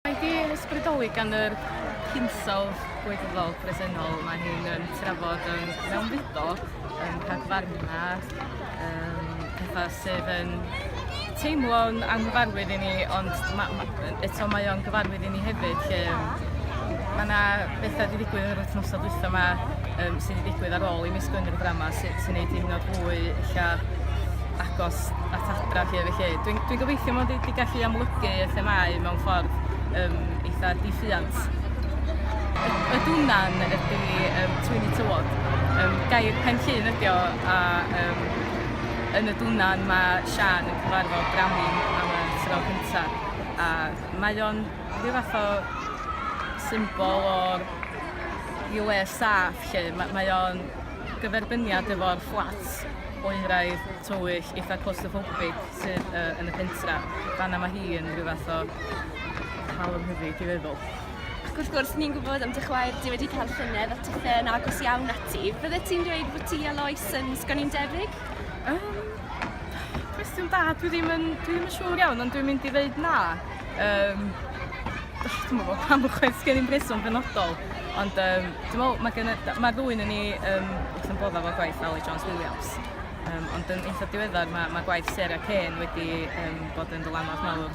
Mae di ysbrydoli gan yr hinsawdd gwirfoddol presennol mae hi'n um, trafod yn mewnfudo yn rhagfarna um, pethau sydd yn teimlo'n anghyfarwydd i ni ond ma, ma, eto mae o'n gyfarwydd i ni hefyd lle mae yna bethau wedi digwydd yn yr wythnosau dwytha yma um, sydd wedi digwydd ar ôl i mis Gwener y Brama sy'n sy wneud hi'n hynod fwy illa agos at adra chi efo chi. Dwi'n dwi gobeithio mod i wedi gallu amlygu y themau mewn ffordd um, eitha diffiant. Y dwnan ydy um, twyni tywod. Um, gair pen llun ydy o, a um, yn y dwnan mae Sian yn cyfarfod Bramin am y tro cyntaf. A mae o'n rhyw fath o symbol o'r i le saff lle. Mae, mae o'n gyferbyniad efo'r fflats oeraidd, tywyll, eitha claustrophobic sydd uh, yn y pentra. Fanna mae hi yn rhyw fath o cael yn hyfyd i feddwl. Ac wrth gwrs, ni'n gwybod am dy chwaer, di wedi cael llynedd a tithau yn agos iawn ati. Fydde ti'n dweud bod ti a Lois yn sgon i'n debyg? Um, cwestiwn da, dwi ddim yn, dwi ddim yn siŵr iawn, ond dwi'n mynd i ddeud na. Um, Dwi'm yn gwybod pam chwaith sgen i'm rheswm benodol ond yym dwi'n meddwl mae gen y... mae ddwy 'non ni yym wrth ein boddau efo gwaith Aled Jones Williams yym ond yn eitha' diweddar ma' ma' gwaith Sarah Kane wedi yym bod yn ddylanwad mawr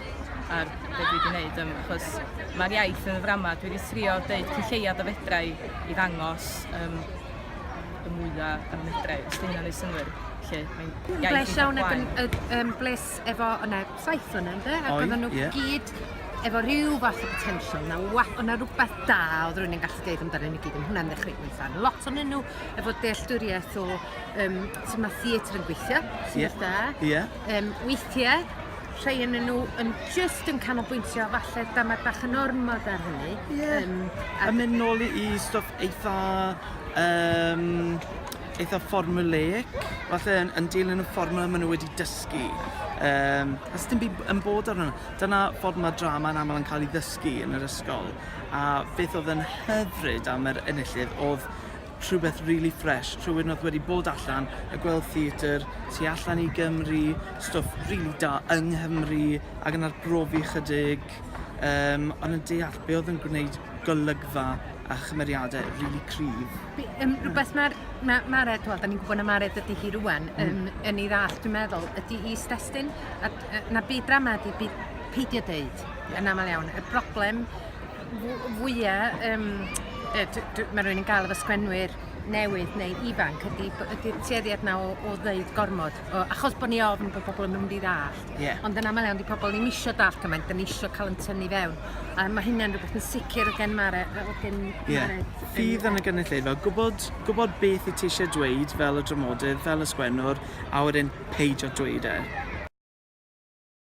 ar be' dwi 'di neud yym achos ma'r iaith yn y ddrama dwi 'di trio deud cyn lleiad a fedra i i ddangos yym y mwya' a fedra i os 'di hynna'n neud synnwyr 'lly mae'n iaith eitha' plain. Dwi'n bles iawn ag yn yy yym bles efo o 'na saith o'na ynde? Ac Oedd, oedden nhw ie. gyd efo rhyw fath o potential, na wa, o' na rhywbeth da oedd rwy'n yn gallu deud amdano nhw gyd, yn hwnna'n ddechrau gweithio. Lot o'n nhw efo dealltwriaeth o um, sy'n mae theatr yn gweithio, sy'n yeah. da. Yeah. Um, weithiau, rhai yn nhw yn just yn canolbwyntio falle damad bach yn ormod ar hynny. Yeah. Um, a, a mynd nôl i stwff eitha... Um, eitha formulaic, falle yn, yn dilyn y fformula maen nhw wedi dysgu. Um, a sydd ddim yn bod arno. Dyna ffordd mae drama yn aml yn cael ei ddysgu yn yr ysgol. A beth oedd yn hyfryd am yr enillydd oedd rhywbeth really fresh, rhywun oedd wedi bod allan a gweld theatr tu allan i Gymru, stwff really da yng Nghymru ac yn arbrofi chydig, um, ond yn deall be oedd yn gwneud golygfa a chymeriadau really cryf. Be, um, rhywbeth mae'r... Mae Mared, wel, da ni'n gwybod na Mared ydy hi rwan, um, hmm. yn ei ddall, dwi'n meddwl, ydy i stestyn, a, a, na byd drama ydy byd peidio dweud, yn aml iawn. Y broblem fwyaf, um, mae rhywun yn gael efo sgwenwyr newydd neu ifanc ydy'r ydy tueddiad na o, o ddeud gormod, o, achos bod ni ofn bod pobl yn mynd i ddall. Yeah. Ond yn aml iawn, di pobl ddim eisiau dall cymaint, dyn ni eisiau cael yn tynnu fewn. A mae hynny'n rhywbeth yn sicr o gen Mare. O gen yeah. Mare. Fydd yn y gynulleidfa, gwybod, gwybod beth i ti eisiau dweud fel y dramodydd, fel y sgwennwr, a wedyn peidio dweud e.